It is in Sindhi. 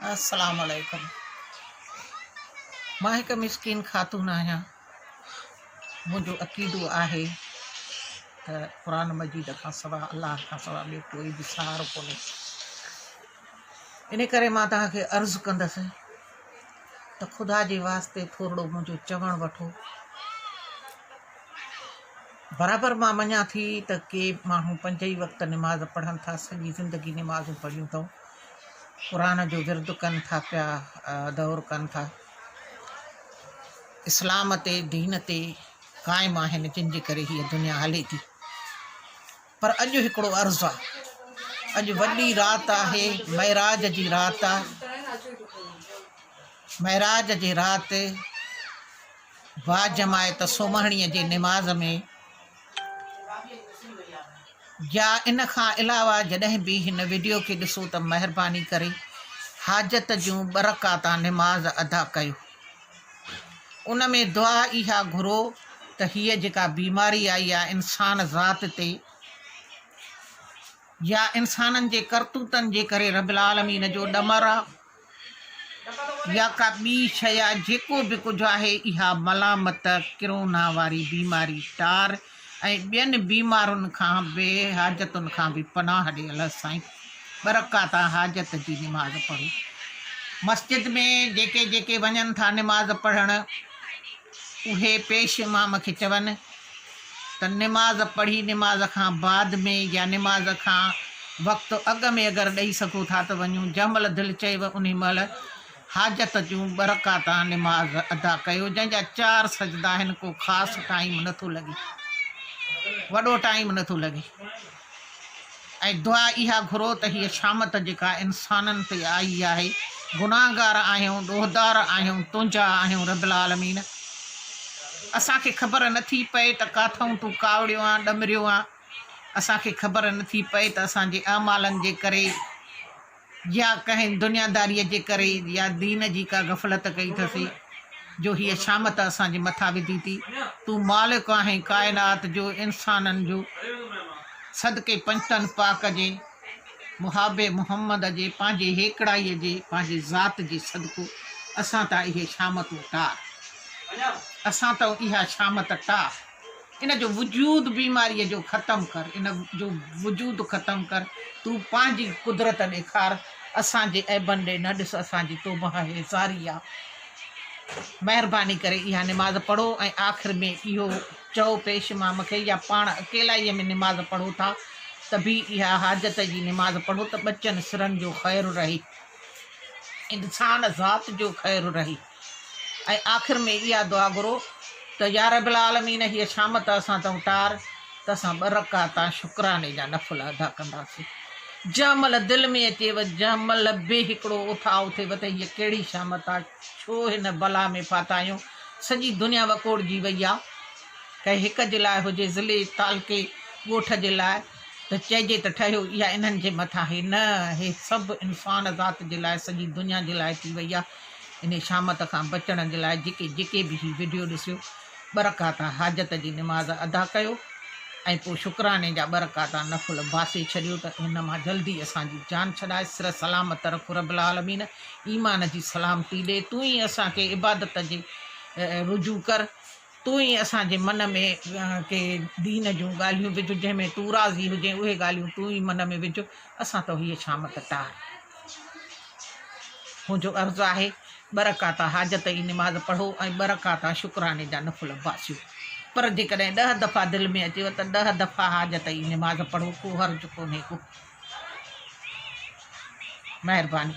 السلام عليڪم مان هڪ مسڪين خاتون آهيان منهنجو عقيدو آهي ته قرآن مجيد کان سوا الله کان سوا ٻيو ڪوئي به سهارو ڪونهي ان ڪري مان توهان کي عرض ڪندس ته خدا جي واسطي ٿورڙو منهنجو چوڻ وٺو برابر مان مڃان ٿي ته ڪي ماڻهو پنج ئي وقت نماز پڙهن ٿا سڄي زندگي نمازون پڙهيون اٿئون قرآن جو ورد ڪن ٿا پيا دور ڪن ٿا اسلام تي دين تي قائم آهن جن جي ڪري هي دنيا هلي ٿي پر اڄ هڪڙو عرض آ اڄ وڏي رات آهي معراج جي رات آ معراج جي رات با جماعت سومهڻي جي نماز ۾ جا ان کان علاوه جڏهن به هن وڊيو کي ڏسو ته مهرباني ڪري حاجت جون ٻه رڪعتا نماز ادا ڪيو ان ۾ دعا اها گهرو ته هيء جيڪا بيماري آئي يا انسان ذات تي يا انسانن جي ڪرتوتن جي ڪري رب العالمين جو ڏمر آ يا ڪا ٻي شيء يا جيڪو به ڪجهه آهي، اها ملامت ڪرونا واري بيماري، ٽار ۽ ٻين بيمارين کان بي حاجتن کان به پناهه ڏي الله سائين ٻرڪاتا حاجت جي نماز پڙهو مسجد ۾ جيڪي جيڪي وڃن ٿا نماز پڙهڻ. اهي پيش امام کي چون ته نماز پڙهي نماز کان بعد ۾ يا نماز کان وقت اڳ ۾ اگر ڏئي سگهو ٿا ته وڃون، جنهن مهل دل چيو انهي مهل حاجت جون ٻه رڪعتان نماز ادا ڪيو، جنهن جا چار سجدا آهن، ڪو خاص ٽائيم نٿو لڳي، وڏو ٽائيم نٿو لڳي. ۽ دعا اها گهرو ته هيء شامت جيڪا انسانن تي آئي آهي، گناهگار آهيون، ڏوهدار آهيون، تنهنجا آهيون رب العالمين! اسان کي خبر نه ٿي پئي ته ڪاٿئون تون ڪاوڙيو آن ڏمريو آن، اسان کي خبر نه ٿي پئي ته اسان جي اعمالن جي ڪري، يا ڪنهن دنياداريء جي ڪري يا دين جي ڪا غفلت ڪئي ٿسي، جو هيء شامت اسان جي مٿان وڌي ٿي. تون مالڪ آهين ڪائنات جو، انسانن جو. صدقي پنجتن پاڪ جي، محاب محمد جي، پنهنجي هيڪڙائيء جي، پنهنجي ذات جي صدقو، اسان تان اهي شامتون ٽار. اسان تان اها شامت ٽار. ان جو وجود بيماريء جو ختم ڪر ان جو وجود ختم ڪر تون پنهنجي قدرت ڏيکار اسان جي عيبن ڏي نه ڏس اسان جي توبهه هي زاري آ مهرباني ڪري اها نماز پڙهو ۽ آخر ۾ اهو چئو پيش امام کي يا پاڻ اڪيلائيء ۾ نماز پڙهو ٿا ته به اها حاجت جي نماز پڙهو ته ٻچن سرن جو خير رهي انسان ذات جو خير رهي ۽ آخر ۾ اها دعا گهرو ته يارب العالمين هيء شام ته اسان تون ٽار ته اسان ٻه رڪعتا شڪراني جا نفل ادا ڪنداسين جنهن مهل دل ۾ اچيو جنهن مهل به هڪڙو اٿاء اٿيو ته هيء ڪهڙي شام ته ڇو هن بلا ۾ ڦاٿا آهيون سڄي دنيا وڪوڙجي وئي آ ڪنهن هڪ جي لاء هجي ضلعي تعلقي ڳوٺ جي لاء ته چئجي ته ٺهيو اها انهن جي مٿان هي نه هي سڀ انسان ذات جي لاء سڄي دنيا جي لاء ٿي وئي آ انهي شامت کان بچڻ جي لاء جيڪي جيڪي به هي وڊيو ڏسيو ٻه رڪعتا حاجت جي نماز ادا ڪيو ۽ پوء شڪراني جا ٻه رڪعتا نفل باسي ڇڏيو ته ان مان جلدي اسان جي جان ڇڏائي سره سلامت رک رب العالمين ايمان جي سلامتي ڏي تون ئي اسان کي عبادت جي رجوع ڪر. تون ئي اسان جي من ۾ ڪي دين جون ڳالهيون وجهه جنهن ۾ تون راضي هجين اهي ڳالهيون تون ئي من ۾ وجهه اسان تو هيء شام ته ٽار منهنجو عرض آهي ٻه رڪعتا حاجت جي نماز پڙهو ۽ ٻه رڪعتا شڪراڻي جا نفل باسيو پر جيڪڏهن ڏهه دفعا دل ۾ اچيو ته ڏهه دفعا حاجت جي نماز پڙهو ڪو حرج ڪونهي ڪو مهرباني